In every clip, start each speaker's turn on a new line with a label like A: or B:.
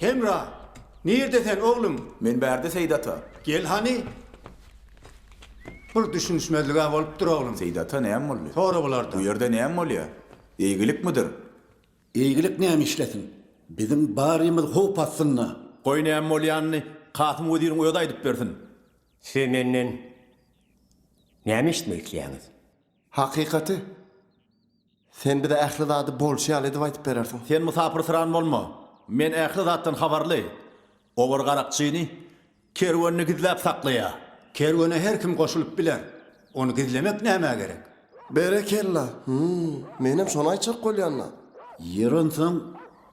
A: Hemra! Nirde sen, oglum? Men bärde, Seýit ata.
B: Gel hany!
A: Bir düşünişmezlig-ä bolupdyr, oglum. Seýit ata, näme boldy? Sora
B: bulardan. Bu ýerde
A: näme bolýar?
B: Eýgilikmidir? Eýgilik
C: näme işlesin? Biziň barymyz howp astynda. Goý, näme bolýanyny
B: Kasym weziriň özi aýdyp bersin. Siz menden
D: näme eşitmek isleýäňiz? Hakykaty,
E: sen bize ähli zady bolşy ýaly edip aýdyp berersiň. Sen musapyrsyran
B: bolma. Men ähli zatdan habarly. Obar garakçyny kerwenini gizläp saklaýar. Kerwene her
A: kim goşulyp biler. Ony gizlemek nämä gerek? Berekella!
E: Hum, menem şony aýtjak bolýan-da. Ýeri onsoň,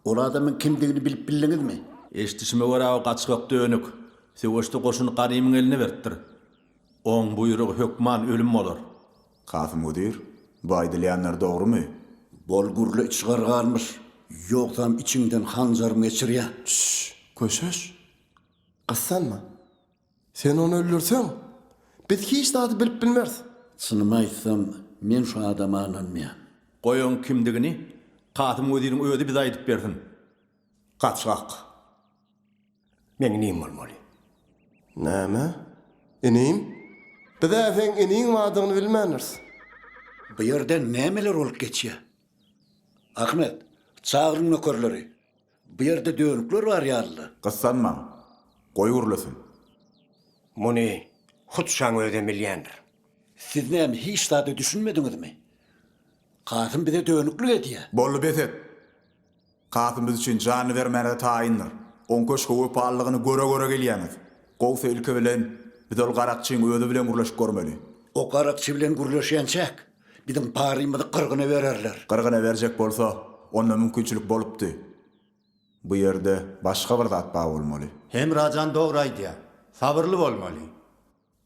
C: ol adamyň kimdigini bilip bildiňizmi? Eşidişime görä,
B: o gaçgak dönük. Söweşde goşuny Garymyň eline beripdir. Oň buýrugy hökman ölüm bolar. Kasym wezir, bu aýdylýanlar dogrumy? Bolgurly
C: içgär galmyş, ýogsam içiňden hanjarym geçirýä. Şş, köşeş!
E: Gyssanma. Sen ony öldürseň, biz hiç zady bilip bilmeris. Çynymy aýtsam,
C: men şu adama ynanmaýan. Goýaň
B: kimdigini Kasym weziriň özi bize aýdyp bersin. Gaçgak.
D: Meň inim bolmaly. Näme?
E: Inim? Biz-ä seň iniň bardygyny bilmändiris. Bu
C: ýerde nämeler bolup geçýär? Ahmet, çagyryň nökerleri. Bu ýerde dönükler bar ýaly-da. Gyssanmaň.
B: Goý gürlesin.
D: Muny hut şaň özem bilýändir. Siz näme
C: hiç zada düşünmediňizmi? Kasym bize dönüklik edýär. Boldy bes et.
B: Kasym biz üçin janyny bermäne-de taýyndyr. Oň köşge wepalylygyny göre-göre gelýäňiz. Gowusy ilki bilen, biz ol garakçyň özi bilen gürleşip görmeli. O garakçy bilen
C: gürleşýänçäk, biziň barymyzy gyrgyna bererler. Gyrgyna berjek bolsa,
B: onda mümkinçilik bolupdy. Bu ýerde başga bir zat bar bolmaly. Hemra jan dogry
A: aýdýa. Sabyrly bolmaly.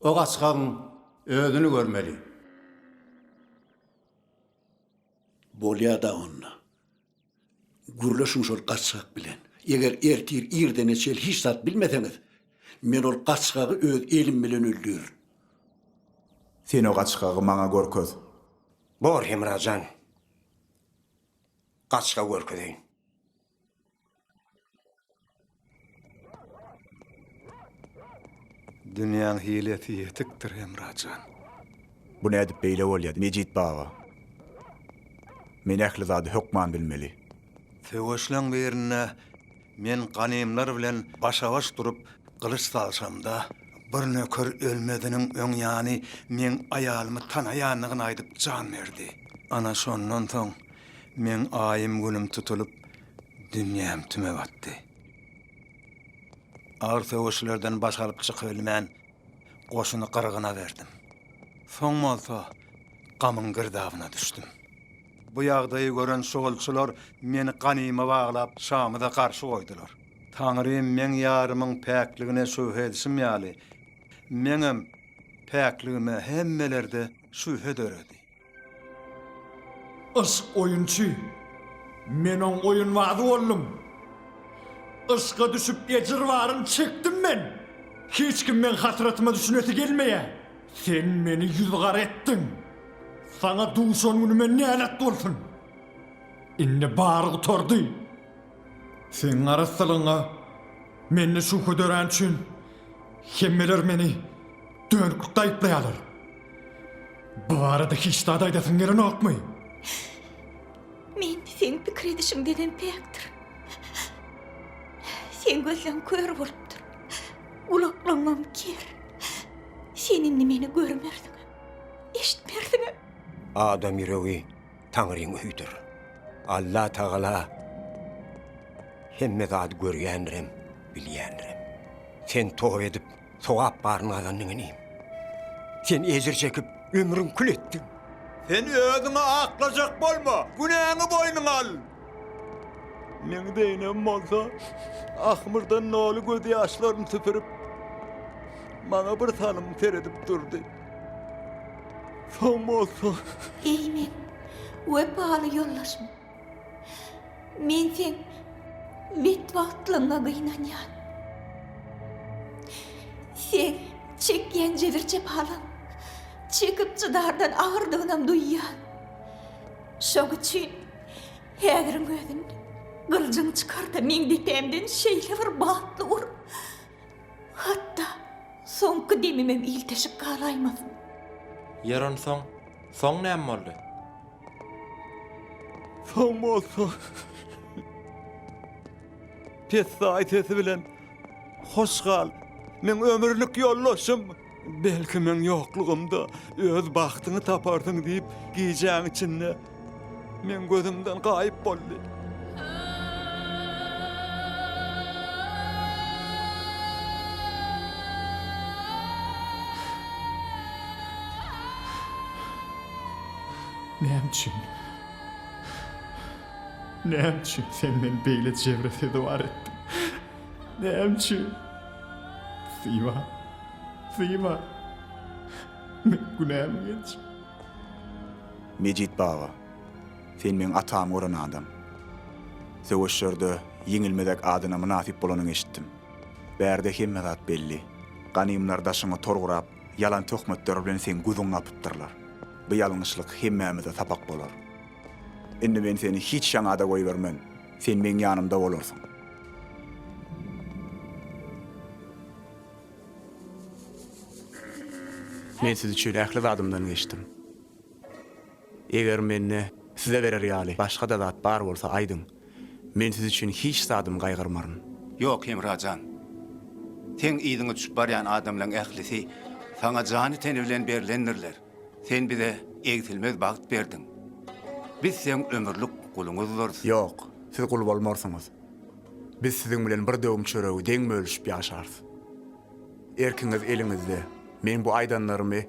A: O gaçgagyň özüni görmeli.
C: Bolýa-da onda. Gürleşiň şol gaçgak bilen. Eger ertir irdene çel hiç zat bilmeseňiz, men ol gaçgagy öz elim bilen öldürin.
B: Sen o gaçgagy maňa görkez. Bor,
D: Hemra jan. Gaçga görkezeýin.
F: Dünýäň hilesi ýetikdir, Hemrajan. Bu
B: nädip beýle bolýar, Mejit baba? Men ähli zady hökman bilmeli. Söweşleň
F: birinde men ganymlar bilen başa-baş durup gylyç salşamda, bir nöker ölmeziniň öň ýany meň aýalymy tanaýandygyny aýdyp jan berdi. Ana, şondan soň meň aýym-günüm tutulyp, Dünýäm tüme batdy. Agyr söweşlerden baş alyp çykybilmän, goşuny gyrgyna berdim. Soň bolsa gamyň girdabyna düşdüm. Bu ýagdaýy gören şugulçylar meni ganyma baglap, şamyza garşy goýdular. Taňrym meň ýarymyň päkligine şübhe edişim ýaly, meňem päkligime hemmelerde şübhe döredi.
G: Yşk oýunçy. Men oň oýunbazy boldum. Yşka düşüp ejir baryny çekdim men. Hiç kim meň hasratyma düşünesi gelmeýär. Sen meni ýüz gara etdiň. Saňa duşan günüme nälet bolsun. Indi bary gutardy. Seň arassalygyňa mende şübhe döräni üçin hemmeler meni dönüklikde aýyplaýarlar. Bu barada hiç zat aýdasyň gelenokmy? Men
H: seň pikir edişiňdenem päkdir. Seň gözleň kör bolupdyr. Gulaklaryňam ker. Sen indi meni görmersiňem, eşitmersiňem.
D: Adam ýüregi. Taňryň öýüdir. Allatagala hemme zady görýändirem, bilýändirem. Sen toba edip, sogap baryny gazandyň inim. Sen ejir çekip, ömrüň kül etdiň. Sen
B: özüňi aklajak bolma, günäňi boýnuňa al!
G: Meň deýenim bolsa, ahmyrdan doly gözýaşlaryny süpürip, maňa birsalym seredip durdy. Sag bolsa. Eý men,
H: wepaly ýoldaşym. Men sen betbagtlygyňa gynanýan. Sen çekýän jebir-jepalaň çekip çydardan agyrdygyňam duýýan. Şoň üçin häziriň özünde gylyjyňy çykar-da meň depämden şeýle bir batly ur. Hatda soňky demimem ilteşik galaýmasyn. Ýer
I: onsoň, soň näme boldy?
F: Soň bolsa, pessaý sesi bilen, Hoş gal, meň ömürlik ýoldaşym! Belki meň ýoklugymda öz bagtyňy taparsyň diýip, gijäň içinde meň gözümden gaýyp boldy.
G: Näme üçin? Näme üçin sen meni beýle jebri-sezewar etdiň? Näme üçin? Syma. Syma. Men günämi geç.
B: Mejit baba. Sen meň atamy gören adam. Söweşlerde ýeňilmezek adyna mynasyp bolanyňy eşitdim. Bärde hemme zat belli. Ganymlar daşyňy tor gurap, ýalan töhmetler bilen seň gözüňi gapypdyrlar. Bu ýalňyşlyk hemmämize sapak bolar. Indi men seni hiç ýaňa-da goýbermen. Sen meň ýanymda bolarsyň. Men siz üçin ähli zadymdan geçdim. Eger mende size berer ýaly başga-da zat bar bolsa, aýdyň. Men siz üçin hiç zadymy gaýgyrmaryn. Ýok, Hemra
A: jan. Seň yzyňa düşüp barýan adamlaryň ählisi saňa jany-teni bilen berlendirler. Sen bize egsilmez bagt berdiň. Biz seň ömürlik guluňyzdyrys. Ýok, siz
B: gul bolmarsyňyz. Biz siziň bilen bir döwüm çöregi deň bölüşip ýaşarys. Erkiňiz eliňizde. Meň bu aýdanlarymy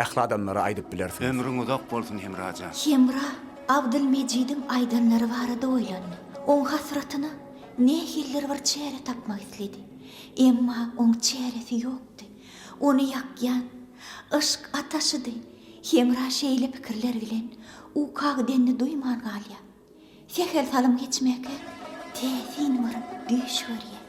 B: ähli adamlara aýdyp bilersiňiz. Ömrüň uzak bolsun,
A: Hemra jan. Hemra
H: Abdylmejidiň aýdanlary barada oýlandy. Oň hasratyna nähilidir bir çäre tapmak isledi. Emma oň çäresi ýokdy. Ony ýakýan, yşk ataşydy. Hemra şeýle pikirler bilen ukagydenini duýman galýar. Sähel salym geçmäkä täsin bir düýş görýär.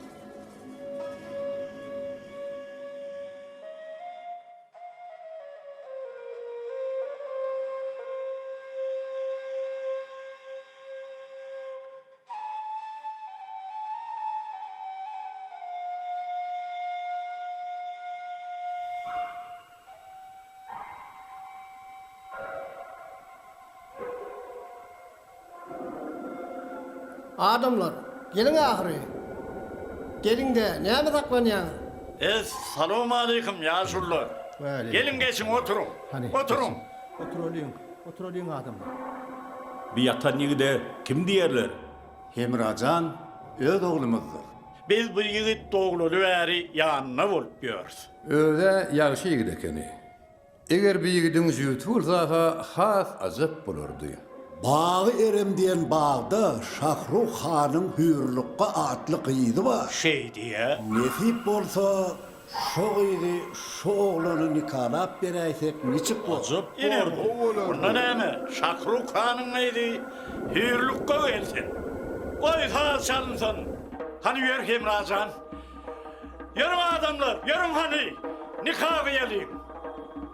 E: Adamlar, geliň ahyry. Geliň-de, näme saklanýaňyz? Es-salowmaleýkim,
G: ýaşulular! Geliň, geçiň, oturyň. Oturyň! Oturalyň,
E: oturalyň adamlar. Bu
B: ýatan ýigide kim diýerler? Hemra jan
A: öz oglumyzdyr. Biz bu ýigit
G: doglaly bäri ýanynda bolup ýörüs. Öz-ä
J: ýagşy ýigit ekeni. Eger bu ýigidiň jübti bolsa-ha has ajap bolardy. Bagy
C: Erem diýen bagda Şahruh hanyň Hüýrlukga atly gyzy bar. Şeýdýä.
G: Nesip bolsa,
C: Şo gyzy şo oglana nikalap beräýsek niçik bor? Ajap bolardy. Ine gowy
G: bolardy. Onda näme, Şakruk hanyň gyzy hüýrlük gowy gelsin. Goý saz çalynsyn. Hany ýör Hemra jan. Ýörüň adamlar, ýörüň hany. Nika gyýalyň.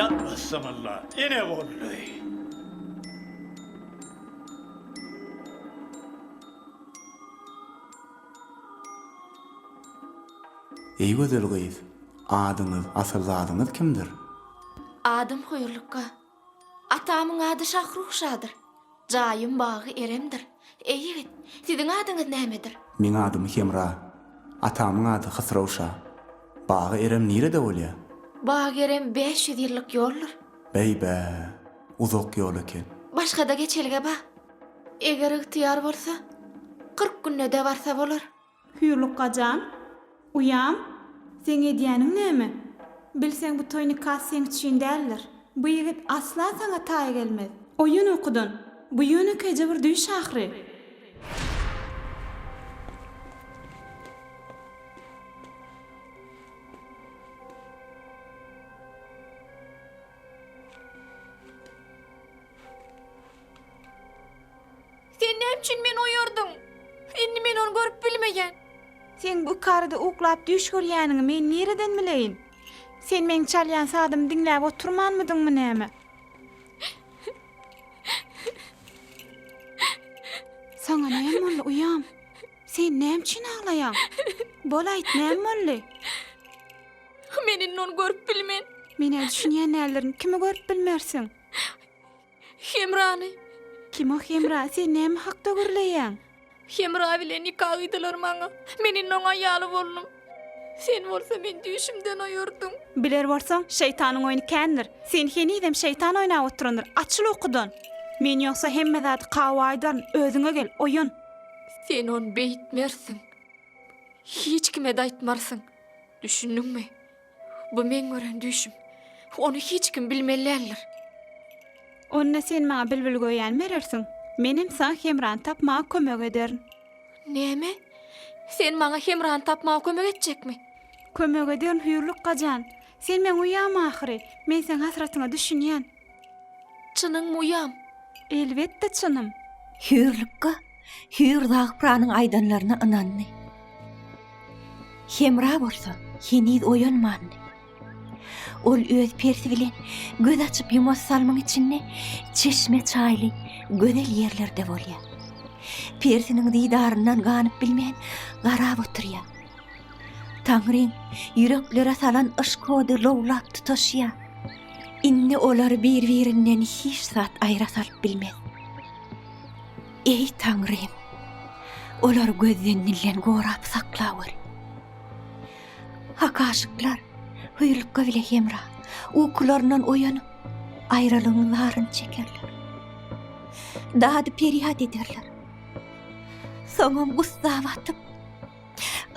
G: Ýatmazsamalla, ine boldy.
B: Eý gözel gyz, adyňyz, asyl zadyňyz kimdir? Adym
H: Huýrlukga. Atamyň ady Şahruşadyr. Jaýym bagy Eremdir. Eý ýigit, siziň adyňyz nämedir? Meň adym Hemra.
B: Atamyň ady Hysrowşa. Bagy Erem nirede bolýar? Bagy Erem
H: bäş ýüz ýyllyk ýoldur. Beý-bä,
B: uzak ýol eken. Başga-da geçelge
H: bar. Eger ygtyýar bolsa, kyrk günde-de barsa bolar. Hüýrlukga jan,
K: uýam, seň edýäniň näme? Bilseň bu toý nikasy seň üçin däldir. Bu ýigit asla saňa taý gelmez. Oýan ukudan, bu ýönekeýje bir düýş ahyry.
H: Sen näme üçin meni oýardyň? Indi men ony görüp bilmeýän. Seň bu
K: ykkarada uklap düýş görýäniňi men nireden bileýin? Sen meň çalýan sazymy diňläp oturmanmydyňmy näme? Saňa näme boldy, uýam? Sen näme üçin aglaýaň? Bol aýt, näme boldy?
H: Men indi ony görüp bilmen. Men-ä düşünýän
K: däldirin, kimi görüp bilmersiň?
H: Hemrany!
K: Kim o Hemra? Sen näme hakda gürleýäň? Hemra bilen
H: nika gyýdylar maňa. Men indi oň aýaly boldum. Sen bolsa meni düýşümden oýardyň. Biler bolsaň,
K: şeýtanyň oýny kändir. Sen henizem şeýtan oýnap oturandyr. Açyl ukudan! Men ýogsa hemme zady Kawa aýdaryn. Özüňe gel, oýan! Sen ony
H: beýtmersiň. Hiç kime-de aýtmarsyň. Düşündiňmi? Bu meň gören düýşüm. Ony hiç kim bilmeli däldir.
K: Onda sen maňa bilbil göýän berersiň. Menem saňa hemrany tapmaga kömek ederin. Näme?
H: Sen maňa hemrany tapmaga kömek etjekmi? Kömek ederin,
K: Hüýrlük gajan. Sen meň uýam ahyry. Men seň hasratyňa düşünýän. Çynyň
H: muýam? Elbetde
K: çynym. Hüýrlukga
H: Hüýr Zagpranyň aýdanlaryna ynandy. Hemra bolsa heniz oýanmandy. Ol öz persi bilen göz açyp ýumas salymyň içinde çeşme çaýly gözel ýerlerde bolýar. Persiniň didaryndan ganyp bilmän garap oturýar. Taňryň ýüreklere salan yşk ody lowlap tutaşýar. Indi olary bir-birinden hiç zat aýra salyp bilmez. Eý, Taňrym, olary gözden dilden gorap sakla gör. Hak aşyklar hüýrlukga bile hemra, ukularyndan oýanyp, aýralygyň zaryny çekerler. Dady-perýat ederler. Soňam gussa batyp,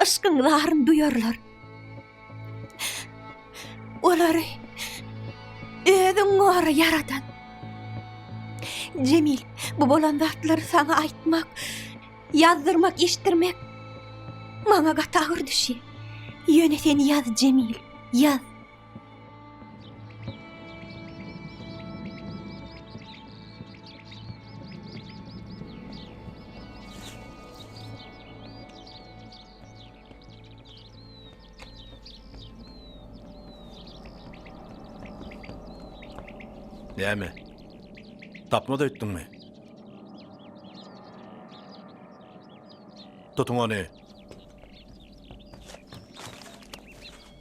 H: yşkyň zaryny duýarlar. Olary özüň gora ýaradan. Jemil, bu bolan zatlary saňa aýtmak, ýazdyrmak, eşitdirmek maňa gaty agyr düşýär. Ýöne sen ýaz, Jemil, ýaz.
L: Näme? Tapmaz öýtdüňmi? Tutuň ony.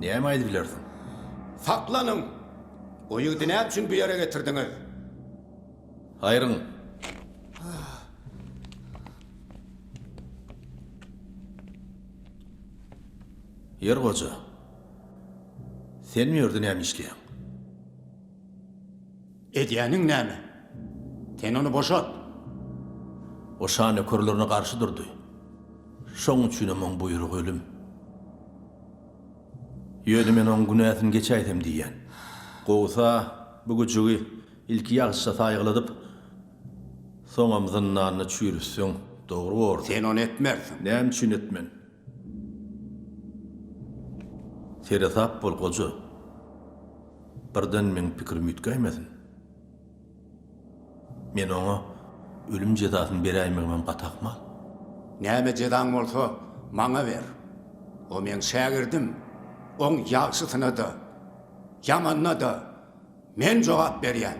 L: Näme aýdyp bilersiň? Saklanyň!
A: O ýigidi näme üçin bu ýere getirdiňiz?
L: Aýryň! Ýer goja, sen bu ýerde näme işleýäň?
A: Edýäniň näme? Sen ony boşat!
L: O şa nökerlerine garşy durdy. Şoň üçinem oň buýrugy ölüm. Ýöne men oň günäsini geçäýsem diýýän. Gowsa, bu güjügi ilki ýagşyja saýgyladyp, soňam zyndanda çüýrütseň dogry bordy. Sen ony etmersiň.
A: Näme üçin etmen?
L: Seresap bol, goja. Birden meň pikirim üýtgäýmesin. Men oňa ölüm jezasyny beräýmegimem gaty ahmal. Näme
A: jezaň bolsa, maňa ber. O meň şägirdim. Oň ýagşysyna-da, ýamanyna-da men jogap berýän.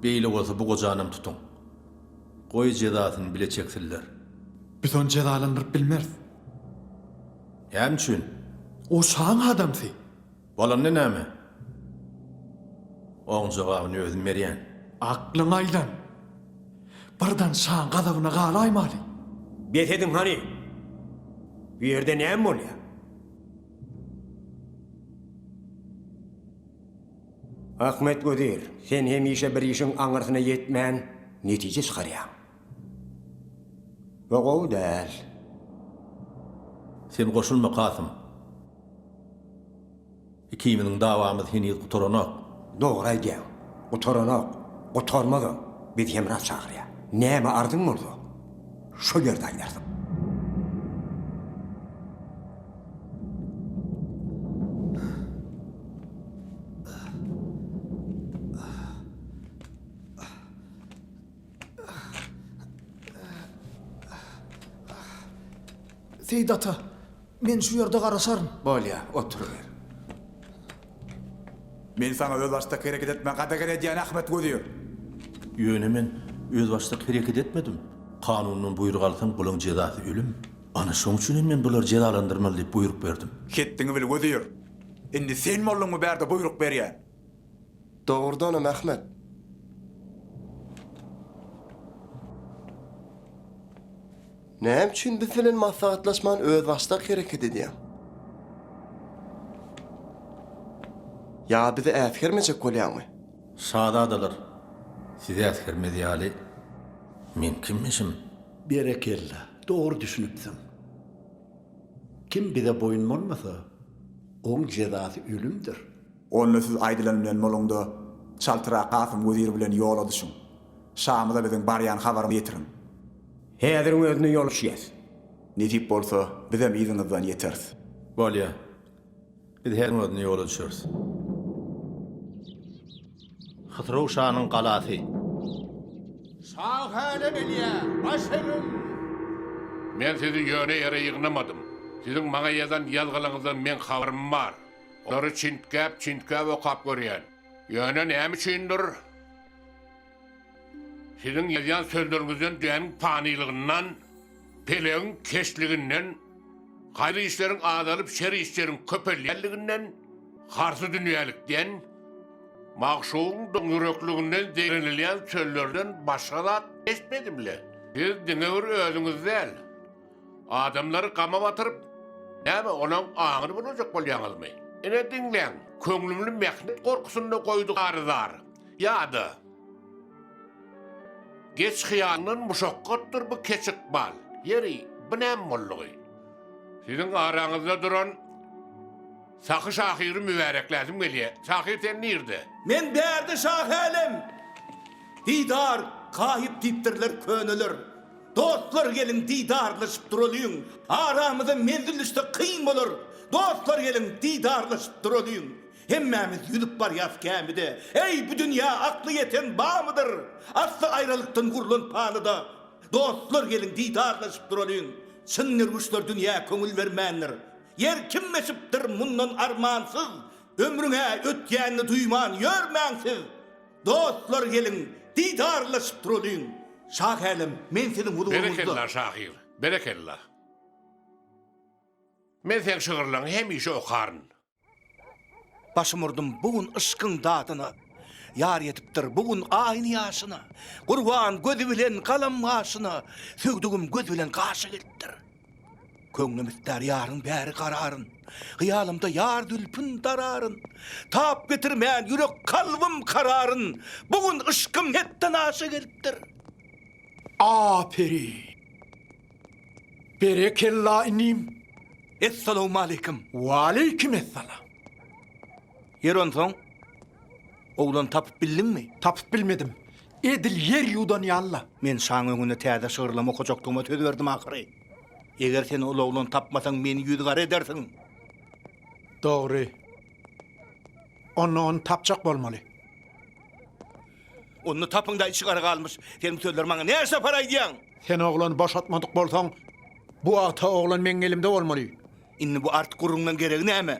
L: Beýle bolsa bu gojanam tutuň. Goý jezasyny bile çeksinler. Biz ony
G: jezalandyryp bilmeris.
L: Näme üçin? O şaň
G: adamsy. Bolanda näme?
L: Oň jogabyny özüm berýän. Aklyňy aýlan.
G: Birden şaň gazabyna galaýmaly. Bes ediň
D: hany! Bu ýerde näme bolýar? Ahmet wezir, sen hemişe bir işiň aňyrsyna ýetmän, netije çykarýaň. we gowy däl.
L: Sen goşulma Kasym. Ikimiziň dawamyz heniz gutaranok. Dogry aýdýaň.
D: Gutaranok. Gutarmazam. Biz hemra çagyrýar. Näme arzyň bolsa, şol ýerde aýdarsyň.
G: Seýit ata, men şu ýerde garaşaryn. Bolýar, oturyber.
B: Men saňa özbaşdak hereket etmäge gadagan edýän, Ahmet wezir! Ýöne
L: men özbaşdak hereket etmedim. Kanundan buýruk alsaň, bulaň jezasy ölüm. Ana, şoň üçin hem men bulary jezalandyrmaly diýip buýruk berdim. Hetdiňi bil, wezir!
B: Indi sen bolduňmy bärde buýruk berýän?
E: Dogrudanam Ahmet. Näme üçin biz bilen maslahatlaşman özbaşdak hereket edýäň? Ýa bizi äsgermejek bolýaňmy? Şazadalar,
L: sizi äsgermez ýaly men kimmişim? Berekella,
C: dogry düşünipsiň. Kim bize boýun bolmasa, oň jezasy ölümdir. Onda siz
B: aýdylan bilen Moluňda çaltyrak Kasym wezir bilen ýola düşüň. Şamyza biziň barýan habarymyzy ýetiriň. Häziriň
D: özünde ýola düşýäs. Nesip bolsa,
B: bizem yzyňyzdan ýeteris. Bolýar.
L: Biz häziriň özünde ýola düşeris. Hysyrow şanyň galasy.
J: Şa hälä gelýär. Baş egin! Men sizi ýöne ýere ýygnamadym. Siziň maňa ýazan ýazgylaryňyzdan meň habarym bar. Olary çintgäp-çintgäp okap görýän. Ýöne näme üçindir, siziň ýazýan sözleriňizden dünýäniň panylygyndan, pelegiň keçliginden, haýyr işleriň azalyp, şer işleriň köpelýänliginden, harsy dünýälikden, magşugyň doňýürekliginden zeýrenilýän sözlerden başga zat eşitmedim-le. Siz diňe bir özüňiz däl. Adamlary gama batyryp, näme olaň aňyny bozajak bolýaňyzmy? Ine diňläň, köňlümni mähnet gorkusynda goýdy garyzar. Ýa-da. Geç hyýalyndan muşakgatdyr bu keç ykbal. Ýeri, bu näme boldugy? Siziň araňyzda duran Sahy şahyry mübärekläsim gelýär. Şahyr sen nirde? Men bärde
M: şahy älem! Didar, Kahyp diýipdirler köneler. Dostlar geliň didarlaşyp duralyň Aramyza menzil düşse kyn bolar Dostlar geliň didarlaşyp duralyň Hemmämiz ýüzüp barýas gämide Eý bu dünýä akly ýeten bamydyr Asly aýralykdan gurlan palyda Dostlar geliň didarlaşyp duralyň Çyn derwüşler dünýä köňül bermändir Ýer kim eşipdir mundan armansyz Ömrüň-ä ötýänini duýman ýörmäň siz Dostlar geliň didarlaşyp turalyň. Şahälem men siziň huzuryňyzda. Berekella şahyr,
J: berekella. Men seň şygyrlaňy hemişe okaryn. Başym urdum
M: bu gün yşkyň dadyna, Ýar ýetipdir bu gün aýyny ýaşyna, Gurban gözi bilen galam gaşyna, Sögdügim göz bilen gaşa gelipdir. Köňlüm ister yaryn bäri gararyn, Hyýalymda ýar zülpün dararyn. Tap getirmän ýürek kalbym kararyn, Bu gün yşkym hetden aşa gelipdir. Aperi.
G: Berekella inim. Essalamu
M: aleyküm. Waleyküm
G: essalam.
M: Ýer onsoň, oglan tapyp bildiňmi? Tapyp bilmedim.
G: Edil ýer ýuwdan ýaly-la. Men şaň öňünde
M: täze şygyrlama okajakdygyma söz berdim ahyry. Eger sen ol oglany tapmasaň, meni ýüzügara edersiň.
G: Dogry. Onda ony tapjak bolmaly.
M: Onda tapyň-da, içi gara galmyş. Sen bu sözleri maňa näçe sapar aýdýaň? Sen oglany
G: boşatmadyk bolsaň, bu wagta oglan meň elimde bolmaly. Indi bu artyk
M: gürrüňleň geregi näme?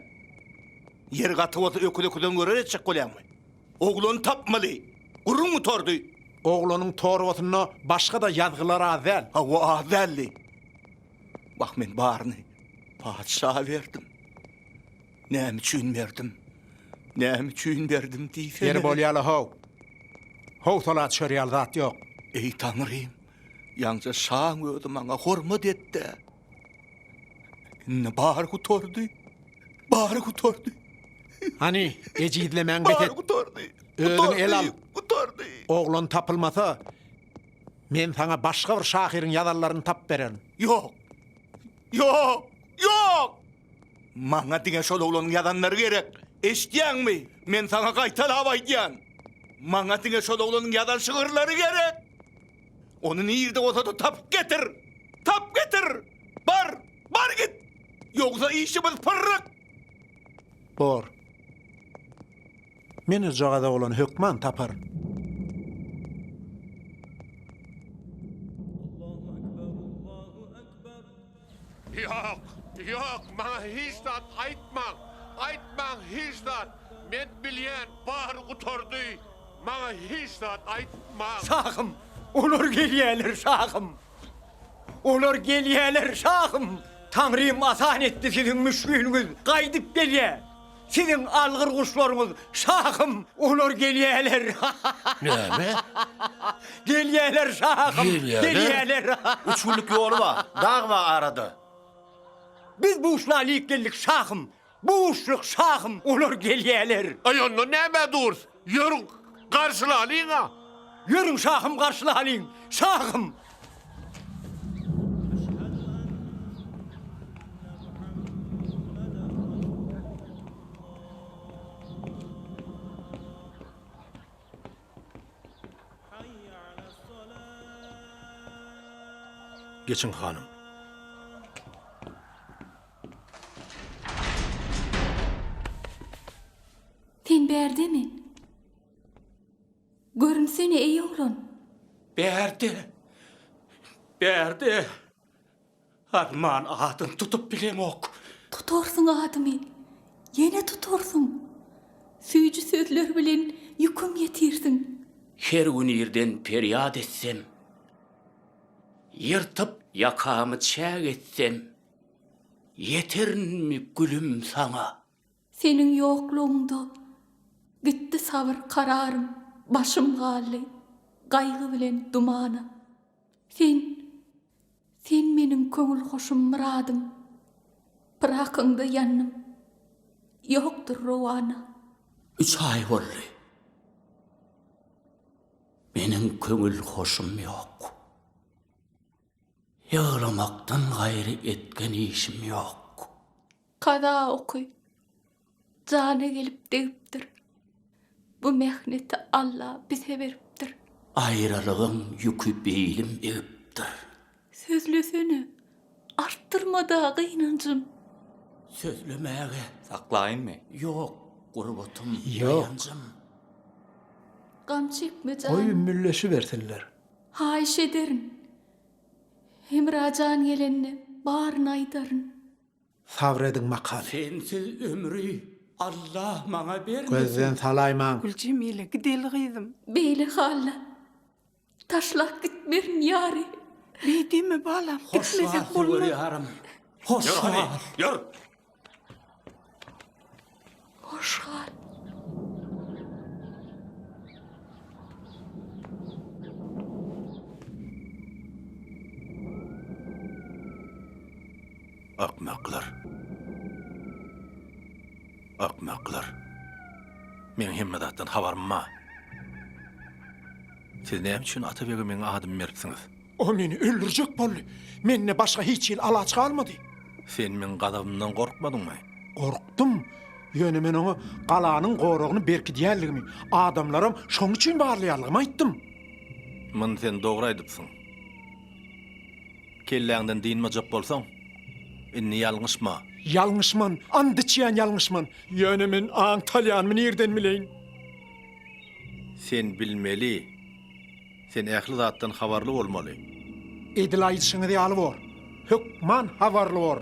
M: Ýer gaty bolsa öküz öküzden görer etjek bolýaňmy? Oglany tapmaly. Gürrüň gutardy. Oglanyň
G: torbasynda başga-da ýazgylar az däl. Hawa, az däldi.
M: Wah, men baryny patyşa berdim. Näme üçin berdim? Näme üçin berdim diýsene. Ýeri bolýala-how.
G: Howsala çörýäl zat ýok. Eý, Taňrym,
M: ýaňja şaň özi maňa hormat et-de! Indi bary gutardy. Bary gutardy. Hany,
G: ejizlemäň bes et. Gutardy.
M: Özüň el al.
G: Gutardy.
M: Oglan tapylmasa,
G: men saňa başga bir
M: şahyryň
G: ýazanlaryny tap bererin. Ýok. Ýok.
M: Ýok. Maňa diňe şol oglanyň ýazanlary gerek. Eşitýäňmi? Men saňa gaýtalap aýdýan. Maňa diňe şol oglanyň ýazan şygyrlary gerek. Ony nirde bolsa-da tapyp getir! Tapyp getir! Bar, bar git! Ýogsa işimiz pyrryk!
G: Bor. Men ojagaza olany hökman taparyn.
J: Ýok, ýok, maňa hiç zat aýtmaň, aýtmaň hiç zat, men bilýän bary gutardy, maňa hiç zat aýtmaň. Şahym,
D: olar gelýäler, şahym! Olar gelýäler, şahym! Taňrym asan etdi, siziň müşgiliňiz gaýdyp gelýär. Siziň algyr guşlaryňyz şahym, olar gelýäler. Näme? Gelýäler şahym, Gelýäler? gelýäler. Üç günlük ýoly
L: bar, dag bar arada.
D: Biz bu guşla alyp geldik şahym, bu guşluk şahym, olar gelýäler. Aý ondan nämä
J: durs? Ýörüň, garşylalyň-a! Ýörüň,
D: şahym, garşylalyň, şahym!
L: Geçiň, hanym.
H: Sen bärdemi? Görünsene, eý oglan! Bärde!
M: Bärde! Arman adyny tutup bilemok. Tutarsyň
H: adymy. Ýene tutarsyň. Süýji sözler bilen ýüküm ýetirsiň. Her gün
N: irden perýat etsem, Ýyrtyp ýakamy çäk etsem, Ýeterinmi, gülüm, saňa? Seniň
H: ýoklugyňda gitdi sabyr kararym Başym galdy gaýgy bilen dumana Sen, sen meniň köňül huşum myradym Pyrakyňda ýandym ýokdur rowana. Üç aý
N: boldy meniň köňül hoşum ýok Ýyglamakdan gaýry etgen işim ýok. Kaza
H: oky jana gelip degipdir. Bu mehneti Alla bize beripdir. Aýralygyň
N: ýüki beýlim egipdir. Sözlesene,
H: artdyrma-da gynanjym.
N: Sözlemäge. Saklaýynmy? Ýok, gurbatym, daýanjym.
H: Gam çekme janym. Goý, ümmülleşibersinler.
G: Haýyş ederin,
H: Hemra jan gelende baryny aýdaryn. Sabr
G: ediň makaly. Sensiz ömri
N: Allah maňa bermesin. Gözden salaýmaň.
G: Güljemile gideli
K: gyzym. Beýle halda
H: taşlap gitmerin ýary. Beý deme
K: balam gitmesek bolmaz. Hoş wagty
N: görýärin. Hoş wagt. Ýör hany ýör.
H: Hoş gal.
L: Akmaklar. Akmaklar. Meň hemme zatdan habarym bar. Siz näme üçin Atabege meň adymy beripsiňiz? O meni öldürjek
G: boldy. Mende başga hiç hili alaç galmady. Sen meň
L: gazabymdan gorkmadyňmy? Gorkdum.
G: Ýöne men oňa galanyň goragyny berkidýänligimi, adamlaram şoň üçin barlaýanlygymy aýtdym. Muny
L: sen dogry aýdypsyň. Kelläňden dynmajak bolsaň, indi ýalňyşma. Ýalňyşman,
G: and içýän ýalňyşman. Ýöne men aňtalýanymy nirden bileýin? Sen
L: bilmeli. Sen ähli zatdan habarly bolmaly. Edil
G: aýdyşyňyz ýaly bor. Hökman habarly bor.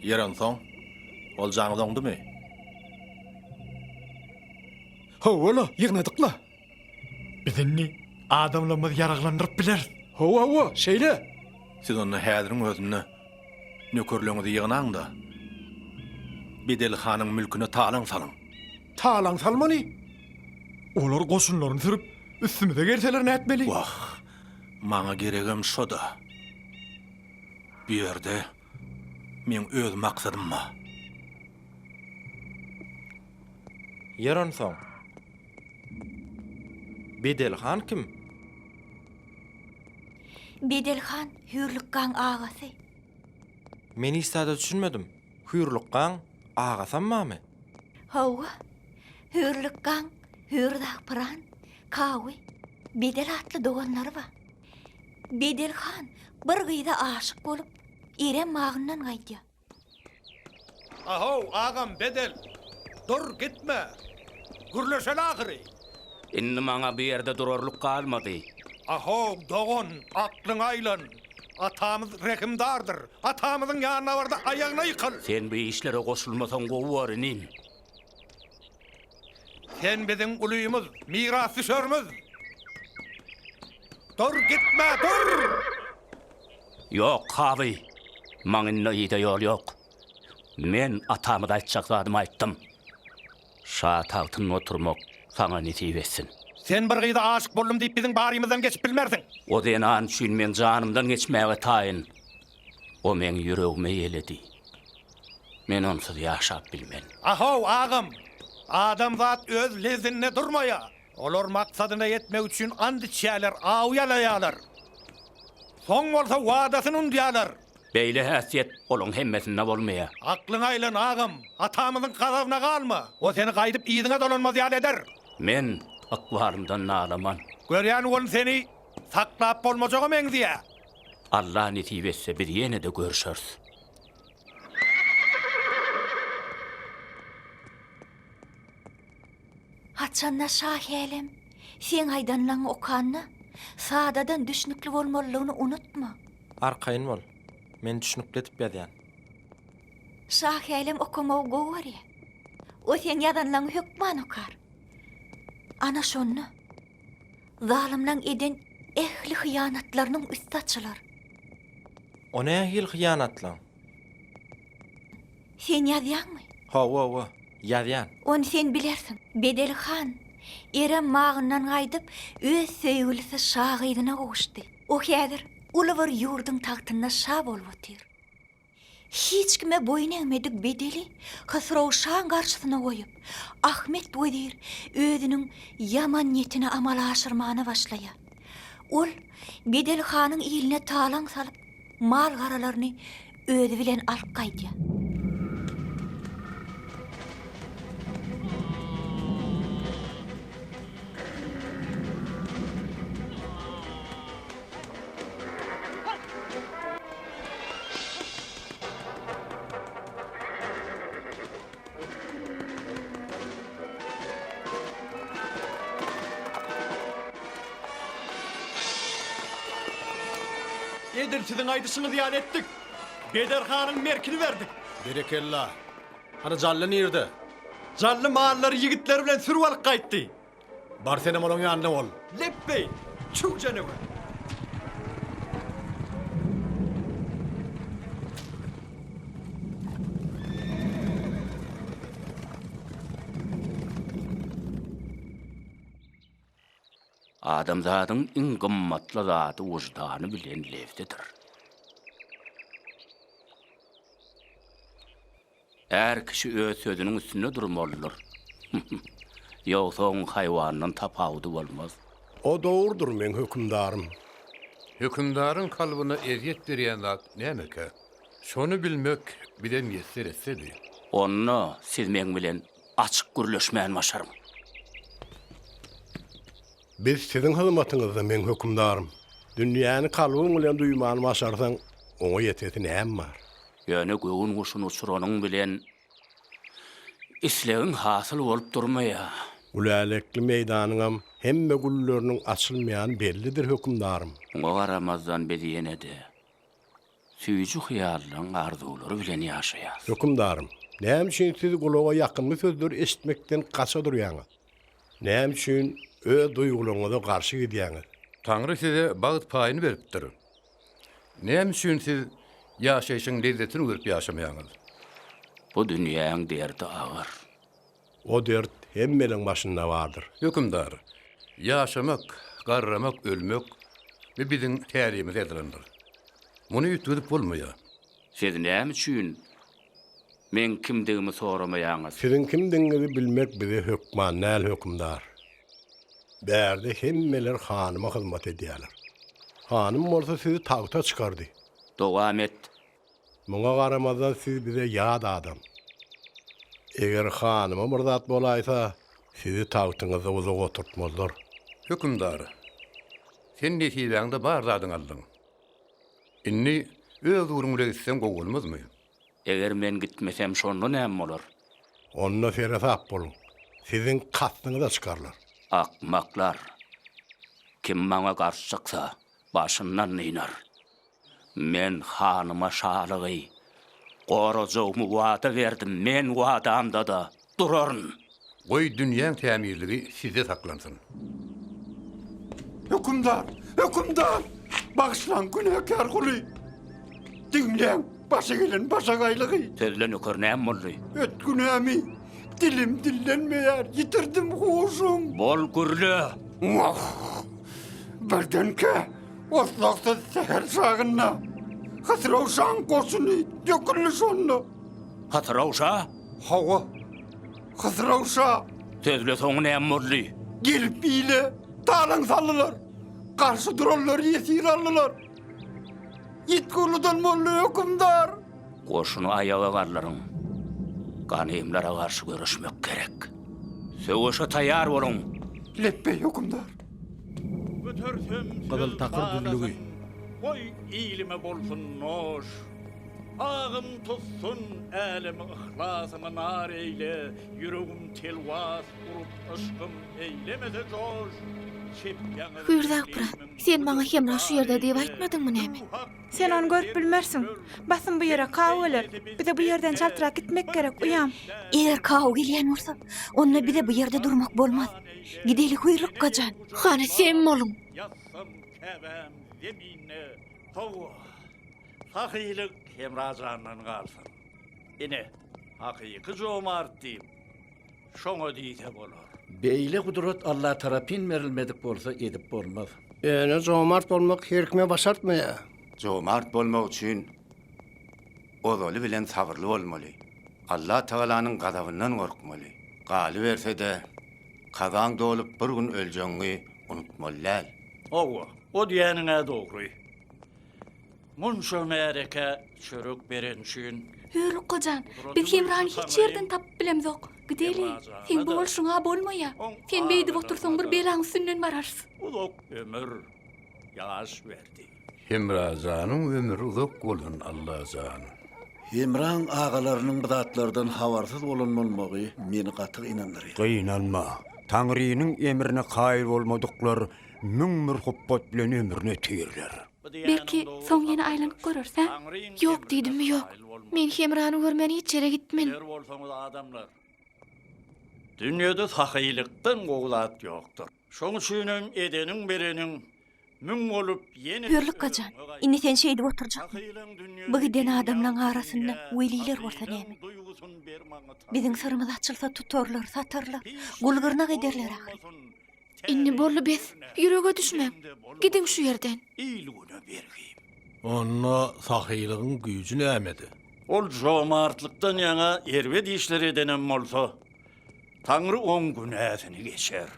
L: Ýer onsoň, oljaňyz oňdumy?
G: Hawa-la, ýygnadyk-la. Biz indi adamlarymyzy ýaraglandyryp bileris. Hawa-hawa, şeýle. Siz onda
L: häziriň özünde nökerleriňizi ýygnaň-da, Bedeli hanyň mülküne talaň salyň. talaň
G: salmaly. Olar goşunlaryny sürüp, üstümize gelseler nätmeli? Wah,
L: maňa geregem şo-da. Bu ýerde meň öz maksadym bar.
I: Ýör onsoň. Bedel han kim?
H: Bedel
I: han Hüýrlük
H: gaň agasy.
I: Men işdäde düşünmedim. Hüýrlukgaň agasam bamy? Hawa.
H: Hüýrlukgaň, Hüýrdagpyran, Kawy, Bedel atly doganlary bar. Bedel han bir gyza aşyk bolup, Eren bagyndan gaýdýar. A-how,
M: agam Bedel! Dur, gitme! Gürleşeli ahyry! Indi
N: maňa bu ýerde durarlyk galmady. A-how,
M: dogan, aklyňy aýlan! Atamyz rehimdardyr. Atamyzyň ýanyna bar-da, aýagyna ýykyl. Sen bu işlere
N: goşulmasaň gowy bor, inim.
M: Sen biziň ulymyz, mirasdüşerimiz. Dur, gitme, dur!
N: Ýok, kaby. Maň indi yza ýol ýok. Men atamyza aýtjak zadymy aýtdym. Şa tagtynda oturmak saňa nesip etsin. Sen bir gyza
M: aşyk boldum diýip biziň barymyzdan geçip bilmersiň. O zenan üçin
N: men janymdan geçmäge taýyn. O meň ýüregime ýeledi. Men onsuz ýaşap bilmen. A-how, agam!
M: Adamzat öz lezzinde durmaýa. Olar maksadyna ýetmek üçin ant içýäler, aw ýalaýalar. Soň bolsa wadasyny unudýalar. Beýle häsiýet
N: olaň hemmesinde bolmaýa. Aklyňa aýlan
M: agam, atamyzyň gazabyna galma. O seni gaýdyp yzyňa dolanmaz ýaly eder. Men
N: ykbalymdan nalaman. Görýän ol
M: seni saklap bolmajaga meňzeýä. Alla
N: nesip etse biz ýene-de görüşeris.
H: Haçan-da Şahälem, seň aýdanlaňy okanda, sadadan düşnükli bolmalylygyny unutma. Arkaýyn bol.
I: Men düşnükli edip ýazýan. Şa hälem
H: okamagy gowy görýä. O seň ýazanlaňy hökman okar. Ana şonda zalymlaň eden ähli hyýanatlarynyň üsti açylar.
I: O nähili hyýanatlaň?
H: Sen ýazýaňmy? Hawa-wa,
I: ýazýan. Ony sen bilersiň.
H: Bedeli han, Erem Magyndan gaýdyp, öz söýgülisi şa gyzyna gowuşdy. O häzir uly bir ýurduň tagtynda şa bolup otyr. Hiç kime boýun egmedik Bedeli Hysrow şaň garşysyna goýup, Ahmet wezir özüniň ýaman niýetini amala aşyrmana başlaýar. Ol Bedeli hanyň iline talaň salyp. Mal-garalaryny özi bilen alyp gaýdýar.
G: Edil siziň aýdyşyňyz ýaly etdik. Beder hanyň merkini berdik. Berekella.
L: Hany Jally nirde? Jally
G: mallary ýigitleri bilen sürüp alyp gaýtdy. Bar senem
L: olaň ýanyna bol. Lepbeý!
G: Çüw janawer!
N: Adamzadyň iň gymmatly zady wyždany bilen lebzidir. Är kişi öz sözüniň üstünde durmalydyr. Ýogsa oň haýwandan tapawudy bolmaz. O dogrudyr
O: meň hökümdarym. Hökümdaryň
J: kalbyna ezýet berýän zat nämekä? Şony bilmek bize miýesser etsedi. Onda
N: siz meň bilen açyk gürleşmän başaryň.
O: Biz siziň hyzmatyňyzda, meň hökümdarym. Dünýäni kalbyň bilen duýmany başarsaň, oňa ýetesi näme bar? Ýöne göwün
N: guşuny uçuranyň bilen, islegiň hasyl bolup durmaýar. Gülälekli
O: meýdanyňam hemme gülleriniň açylmaýany bellidir, hökümdarym. Muňa garamazdan,
N: biz ýene-de Süýji hyýallaryň arzuwlary bilen ýaşaýas. Hökümdarym,
O: näme üçin siz gulaga ýakymly sözleri eşitmekden gaça durýaňyz? Näme üçin öz duýgularyňyza garşy gidýäňiz? Taňry size
J: bagt paýyny beripdir. Näme üçin siz ýaşaýşyň lezzetini görüp ýaşamaýaňyz? Bu
N: dünýäň derdi agyr. O
O: dert hemmeniň başynda bardyr. Hökümdar,
J: ýaşamak, garramak, ölmek, bi biziň tärimize ýazylandyr. Muny üýtgedip bolmaýar. Siz näme
N: üçin meň kimdigimi soramaýaňyz? Siziň kimdigiňizi
O: bilmek bize hökman däl, hökümdar. Bärde hemmeler hanyma hyzmat edýärler. Hanym
N: bolsa
O: sizi tagta çykardy.
N: Dowam
O: et, Muňa garamazdan siz bize ýat adam. Eger hanyma bir zat bolaýsa, sizi tagtyňyzda uzak oturtmazlar. Hökümdar,
J: sen nesibäňde bar zadyňy aldyň. Indi öz ýuruň bile gitseň gowy bolmazmy? Eger men
N: gitmesem, şonda näme bolar? Onda
O: seresap boluň, siziň kastyňyza çykarlar. Akmaklar!
N: Kim maňa garşy çyksa, başyndan dynar. Men hanyma şalygy gorajagymy wada berdim, men wadamda-da duraryn. Goý,
J: dünýäň tämizligi sizde saklansyn. Hökümdar!
C: Hökümdar! Bagyşlaň, günäkär guly! Diňläň, başa gelen başagaýlygy! Sözle, nöker, näme
N: boldy? Öt günämi!
C: Dilim dillenmeýär, ýitirdim huşum! Bol, gürle!
N: Wah!
C: Birdenkä! Oslagsyz säher çagynda Hatyrawşaň goşuny döküldi şonda. Hatyrawşa?
N: Hawa.
C: Hatyrawşa. Sözle
N: soňy näme boldy? Gelip ile
C: talaň saldylar. Garşy duranlary ýesir aldylar. Ýit gurludan boldy hökümdar. Goşuny
N: aýaga galdyryň. Ganymlara garşy göreşmek gerek. Söweşe taýýar boluň. Lepbeý
C: hökümdar. Götersem
G: Gyzyl takyr düzlügi. Goý ilime bolsun noş. Agym tutsun älemi yhlasymy nar eýle, Ýüregim telwas urup yşkym eýlemese joş. Çepýäňiz
H: Hüýrde Akpyrat, sen maňa hemra şu ýerde diýip aýtmadyňmy näme? Sen ony görüp
K: bilmersiň. Basym bu ýere kaw geler. Bize bu ýerden çaltrak gitmek gerek, uýam. Eger kaw
H: gelýän bolsa, onda bize bu ýerde durmak bolmaz. Gideli guýrukgajan. Hany sen boluň. Ýassam
G: Käbäm zeminde. Hawa, sahylyk Hemrajandan galsyn. Ine, hakyky jomart diýip, şoňa diýse bolar. Beýle gudrat
C: Alla tarapyn berilmedik bolsa edip bolmaz. Ýöne jomart
O: bolmak her kime başartmaýar. Jomart
A: bolmak üçin ozaly bilen sabyrly bolmaly. Allah Tagalanyň gazabyndan gorkmaly. Galyberse-de, kazaň dolup bir gün öljegiňi unutmaly däl. Hawa,
G: o diýýäniň-ä dogry. Munça märekä çörek beren üçin. Hör, Ukajan,
H: biz Hemrany hiç ýerden tapyp bilemzok. Gideli, seň bu bolşuň-a bolmaýa. Sen beýdip otursaň bir belaň üstünden bararys. Uzak ömür,
G: ýaş berdi. Hemra janyň
J: ömri uzak bolsun Allajan. Hemraň
C: agalarynyň bu zatlardan habarsyz bolan bolmagy meni gaty gynandyryr. Gynanma.
D: Taňrynyň emrine kaýyl bolmadyklar müň bir hupbat bilen ömrüni ötürirler. Belki
H: soň ýene aýlanyp görers a? Ýok diýdimmi ýok. Men Hemrany görmän hiç ýere gitmen. Biler bolsaňyz adamlar.
G: Dünýede sahyýlykdan gowy zat ýokdur. Şoň üçinem edeniň bereniň müň bolup ýene Hörlik gajan,
H: indi sen şeýdip oturjakmy? Bu giden adamlaň arasynda weliler bolsa näme? Biziň syrymyz açylsa tutarlar, satarlar, gul-gyrnak ederler ahyry. Indi boldy bes, ýürege düşmäň, gidiň şu ýerden. Il-güne bergi.
G: Onda
L: sahylygyň güýji nämede? Ol
G: jomartlykdan ýaňa erbet işler edenem bolsa, Taňry oň günäsini geçer.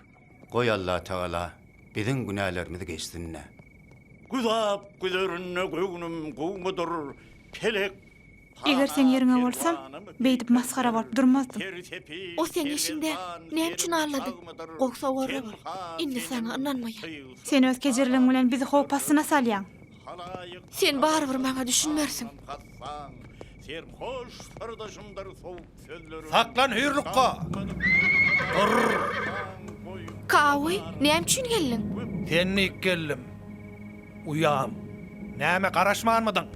G: Goý
A: Allatagala biziň günälerimiz geçsin-dä. Güzap
G: güzerinde göwnüm gowudyr, pelek Eger
K: seň ýeriňe bolsam, beýdip masgara bolup durmazdym. O seň
H: işiňde näme üçin allady? Gowy sowarla bol. Indi saňa ynanmaýan. Sen öz kejirligiň
K: bilen bizi howp astyna salýaň. Sen
H: barybir maňa düşünmersiň.
G: Saklan hüýrlukga!
H: Kaoý, näme üçin geldiň? Sen dik
F: geldim. Uýam. Näme, garaşmanmydyň?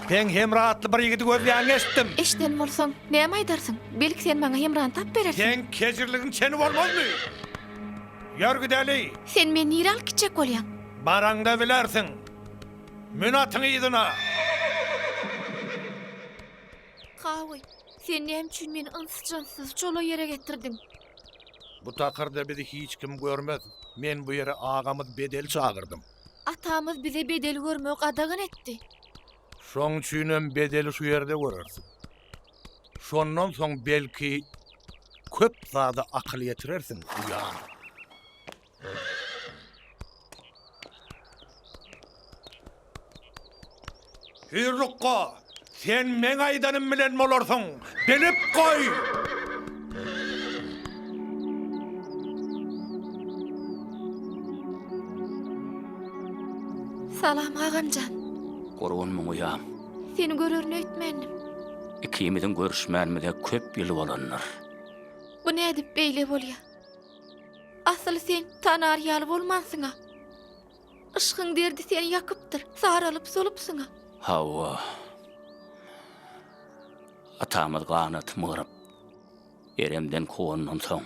F: Sen Hemra atly bir ýigidi gözleýäňi eşitdim. Eşiden bolsaň,
H: näme aýdarsyň? Belki sen maňa Hemrany tap berersiň. Seň kejirligiň
F: çeni bolmazmy? Ýör gideli! Sen meni
H: nirä alyp gitjek bolýaň? Baraňda bilersiň.
F: Mün atyň yzyna.
H: Kawy, sen näme üçin meni ynsyz-jynsyz çola ýere getirdiň? Bu
F: takyrda bizi hiç kim görmez. Men bu ýere agamyz Bedeli çagyrdym. Atamyz bize
H: Bedeli görmegi gadagan etdi. Şoň
F: üçinem Bedeli şu ýerde görersiň. Şondan soň belki köp zada akyl ýetirersiň, uýam. Hüýrlukga,
M: sen meň aýdanym bilen bolarsyň, bilip goý!
H: Salam, agamjan. Gurgun muňa
N: ýam. Seni görerin
H: öýtmändim. Ikimiziň
N: görüşmänimize köp ýyl bolandyr. Bu
H: nädip beýle bolýa? Asyl sen tanar ýaly bolmansyň-a. Yşgyň derdi seni ýakypdyr, saralyp-solupsyň-a. Hawa.
N: Atamyz ganatymy gyryp, eremden kowanydan soň,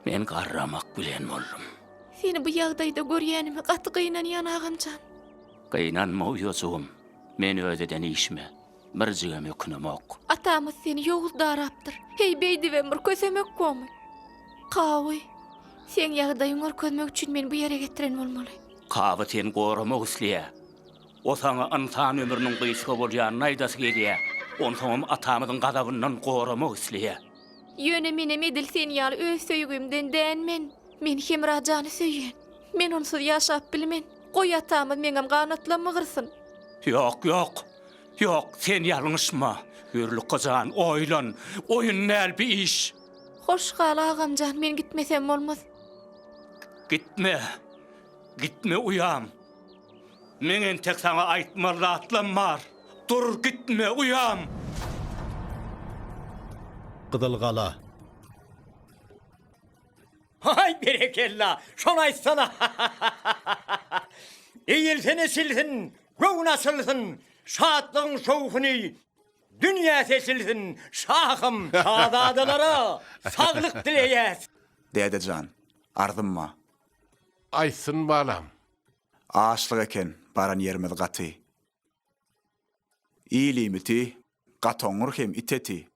N: men garramak bilen boldum. Seni bu
H: ýagdaýda görýänime gaty gynanýan, agam jan. Gynanma,
N: uýajygym. Men öz eden işime, birjigem ökünemok. Atamyz seni
H: ýowuz darapdyr. Heý, beýdibem bir kösemek gomy? Kawy, seň ýagdaýyňy görkezmek üçin meni bu ýere getiren bolmaly. Kawy seni
N: goramak isleýär. O saňa ynsan ömrüniň gysga bolýanyny aýdasy gelýär. Onsoňam atamyzyň gazabyndan goramak isleýär. Ýöne menem
H: edil sen ýaly öz söýgimden dän men. Men Hemra jany söýýän. Men onsuz ýaşap bilmen. Goý atamyz meňem ganatlam mygyrsyn. Ýok, ýok!
N: Ýok, sen ýalňyşma. Hüýrlukga jan, oýlan. Oýun däl bi iş. Hoş gal,
H: agam jan, men gitmesem bolmaz.
N: Gitme. Gitme uýam. Meň entek saňa aýtmaly zatlam bar. Dur, gitme, uýam!
L: Gyzyl gala.
D: Haý, berekella! Şony aýtsana! Eýilsin-eşilsin! Göwün açylsyn, şatlygyň şowhuny dünýä seçilsin, şahym, şazadalara saglyk dileýäs. Däde jan,
B: arzym ba.
J: Aýtsyn balam. Açlyk
B: eken baran ýerimiz gaty. Il iýmiti Gatoňňur hem iteti.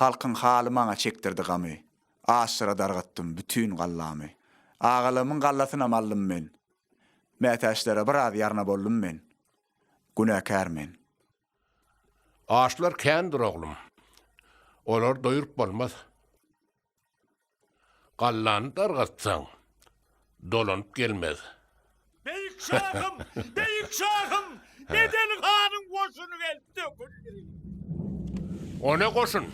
B: Halkyň haly maňa çekdirdi gamy. Aşyra dargatdym bütin gallamy. Agalamyň gallasynam aldym men. Mätäçlere biraz ýarna boldum men. Günäkär men.
J: Açlar kändir oglum. Olary doýrup bolmaz. Gallany dargatsaň, dolanyp gelmez. Beýik
G: şahym, beýik şahym, Bedel hanyň goşuny gelip döküldi.
J: O ne goşun?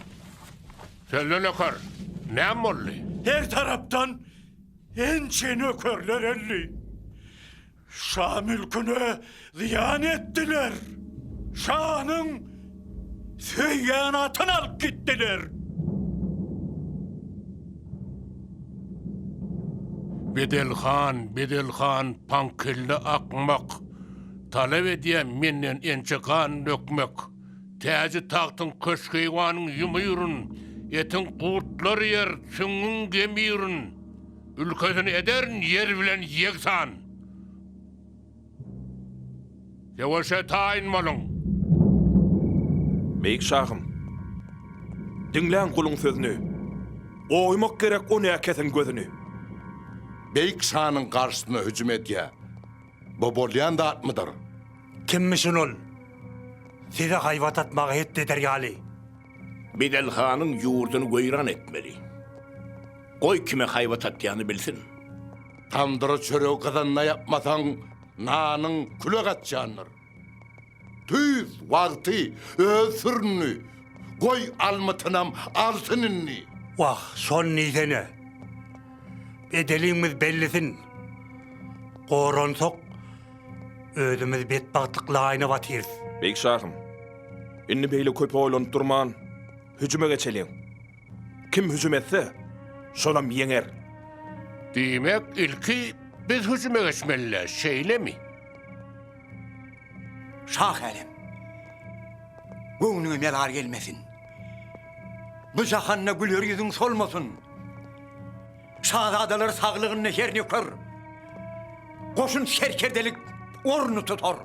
J: Sözle nöker, näme boldy? Her tarapdan
G: ençe nökerler öldi. Şa mülküne zyýan etdiler. Şanyň söýýän atyny alyp gitdiler.
J: Bedel han, Bedel han, paňkilli akmak. Talap edýän menden ençe gan dökmek. Täji tagtyň köşkeýwanyň ýumyryn, etiň gurtlar ýer, süňňüň gemyryn. Ülkesini ederin ýer bilen ýegsan. Söweşe taýyn boluň!
I: Beýik şahym! Diňläň guluň sözüni! Goýmak gerek o näkesiň gözüni!
M: Beýik şanyň garşysyna hüjüm edýär. Bu bolýan zatmydyr? Kimmişin
G: ol? Size haýbat atmaga hetdi eder ýaly? Bedel
M: hanyň ýurduny weýran etmeli. Goý kime haýbat atýany bilsin. Tamdyra çöregi gyzanda ýapmasaň, nanyň küle gaçýandyr. Tüýs wagty öz sürini, goý almytynam alsyn indi. Wah,
G: şony diýsene. Bedeliňmiz bellisin. Goransak, Özümiz betbagtlyk laýyna batyrys. Beýik şahym,
I: indi beýle köp oýlanyp durman, hüjüme geçeliň. Kim hüjüm etse, şolam ýeňer. Diýmek,
J: ilki biz hüjüme geçmeli-le, şeýlemi?
D: Şah älem, göwnüňe melal gelmesin. Bu jahanda güler ýüzüň solmasyn. Şazadalar saglygynda her nöker, goşun serkerdelik orny tutar.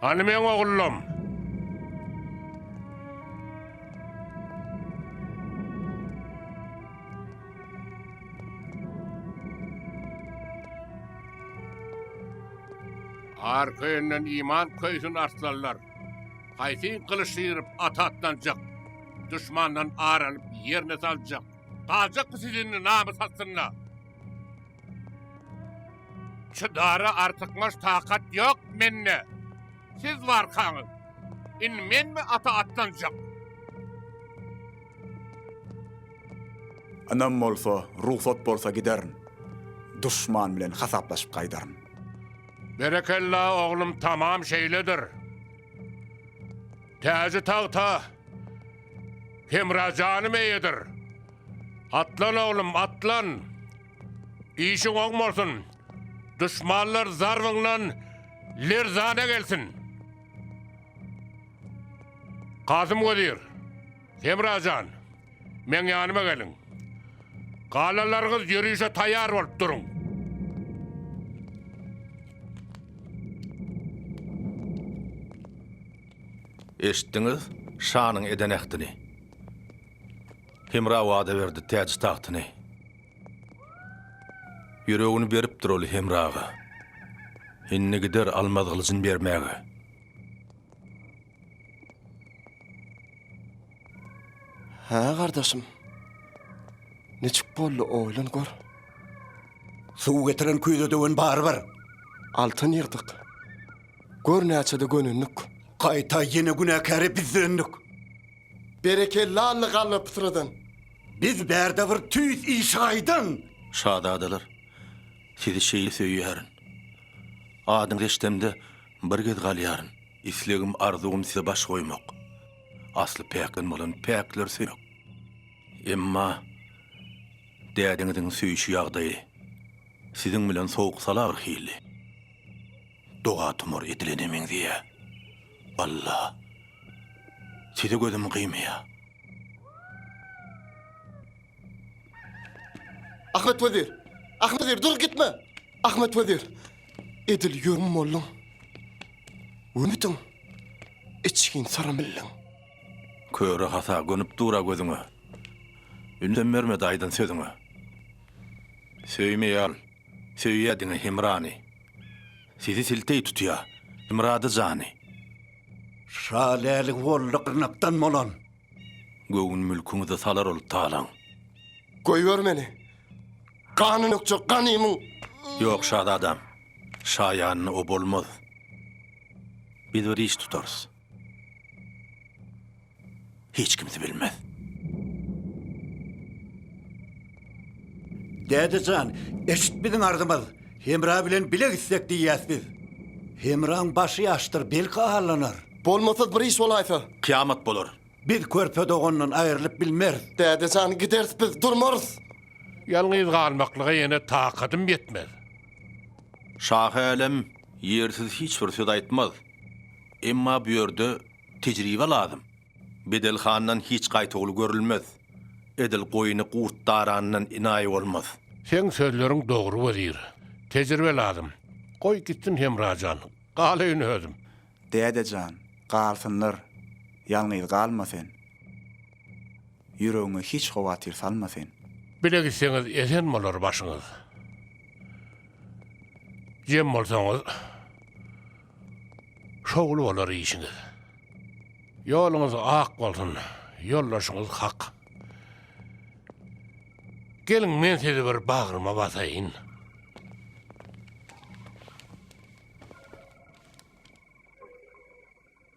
D: Hany meň
J: ogullarim? Arka ýönden iman köýsün arslanlar. Haýsy gylyç syryp ata atlanjak, duşmandan ar alyp ýerine saljak? Galjak bu sizinni namys astynda. Şu dara artykmaç takat yok mende. Siz varkaňyz. In men mi ata atlanjak?
B: Ynam bolsa, rugsat bolsa giderin. Duşman bilen hasaplaşyp gaýdaryn. Berekella
J: oglum tamam şeýledir. Täji tagta Hemra janym eýedir. Atlan oglum, atlan. Işiň oň bolsun. Duşmanlar zarbyňdan lerzana gelsin. Kasym wezir. Hemra jan, meň ýanyma geliň. Galalaryňyz ýörişe taýýar bolup duruň.
L: Eşitdiňiz şanyň eden ähtini. Hemra wada berdi täji-tagtyny. Ýüregini beripdir ol Hemraga. Indi gider almaz gylyjyny bermäge.
E: Hä gardaşym. Niçik boldy oýlan gör.
C: Suw getiren küýze döwen barybir. Altyn
E: ýygdyk. Gör näçede gönendik. Gaýta ýene
C: günäkäre biz döndük.
E: Berekella Alla galla pytradan. Biz bärde
C: bir tüýs işi aýdan. Şazadalar,
L: sizi şeýle söýýärin. Adyňyzy eşdemde bir gez galýaryn. Islegim arzuwym size baş goýmak. Asly päkden bolan päkler söýek. Emma dädiňiziň söýüşi ýagdaýy siziň bilen sowuk-salagr hili. Doga-tumar edilene meňzeýä. Walla, sizi gözüm gyýmaýa.
E: Ahmet Wezir! Ahmet Wezir, dur gitme! Ahmet Wezir! Edil ýörüm bolluň. Wümütüň! Içgin sara milliň.
L: Köre hasa gönüp dura gözüňe. Ündem bermedi aýdan sözüňe. Söýme ýal, söýýä diňe Hemrany. Sizi silteý tutýa, Hemrady jany. Şa
C: lälik boldy gyrnakdan bolan. Göwün
L: mülküňizi salar ol talaň. Goýber
E: meni! Gany dökjek ganymyň! Ýok,
L: şazadam. Şaýanyny o bolmaz. Biz bir iş tutarys. Hiç kimsi bilmez.
C: Däde jan, eşit biziň arzymyz. Hemra bilen bile gitsek diýýäs biz. Hemraň başy ýaşdyr, belki allanar. Bolmasa bir iş
E: bolaýsa? Kyýamat bolar.
L: Biz körpe
C: dogandan aýrylyp bilmeris. Däde jan, gideris
E: biz, durmarys. Ýalňyz
J: galmaklyga ýene takadym ýetmez.
L: Şahälem ýersiz hiç bir söz aýtmaz. Emma bu ýerde tejribe lazym. Bedel handan hiç gaýtawul görülmez, Edil goýny gurt darandan inaý bolmaz. Seň sözleriň
J: dogry wezir, tejribe lazym, Goý gitsin Hemra jan, galaýyn özüm. Däde jan,
B: galsynlar, ýalňyz galma sen, Ýüregiňe hiç howatyr salma sen. Bile gitseňiz
J: esen bolar başyňyz, Jem bolsaňyz. Şowly bolar işiňiz. Ýoluňyz ak bolsun. Ýoldaşyňyz hak. Geliň men sizi bir bagryma basaýyn.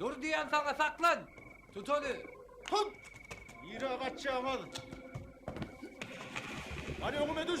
P: Dur
Q: diýen saňa saklan. Tut ony. Hop!
P: Nirä gaçýaňyz? Hadi öňüme düş.